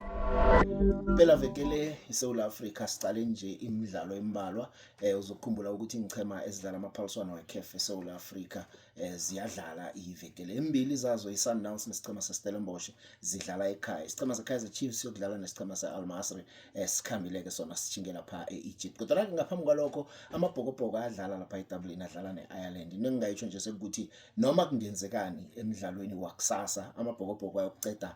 Impela vekele iSouth Africa siqale nje imidlalo embalwa eh uzokukhumbula ukuthi ngichema ezidlala amaphaliswano weCAF eSouth Africa eh ziyadlala ivekele embili zazo iSundowns nesichema seStellenbosch zidlala ekhaya isichema seKaizer Chiefs siyodlala nesichema seAl Masry eh sikhambile ke sona sijingela pha eEgypt kodwa la ngaphambi kwalokho amabhokobhoko ayadlala lapha eDublin adlala neIreland into engingayitsho nje sekuthi noma kungenzekani emidlalweni wakusasa amabhokobhoko ayokuceda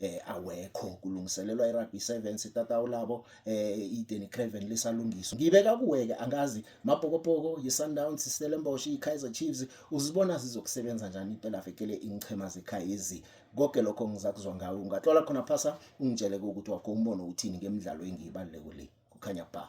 eh awekho kulungiselelwa iRugby 7 sitatawu labo eh iDenny Craven lisalungiswa ngibeka kuweke angazi mabhokopoko yiSundowns iStellenbosch iKaizer Chiefs uzibona zizokusebenza njani impela vekele inchema zeKaizer konke lokho ngizakuzwa ngawe ungatlola khona phasa ungitshele ukuthi wakho umbono uthini ngemidlalo engiyibaluleko le kukhanya ba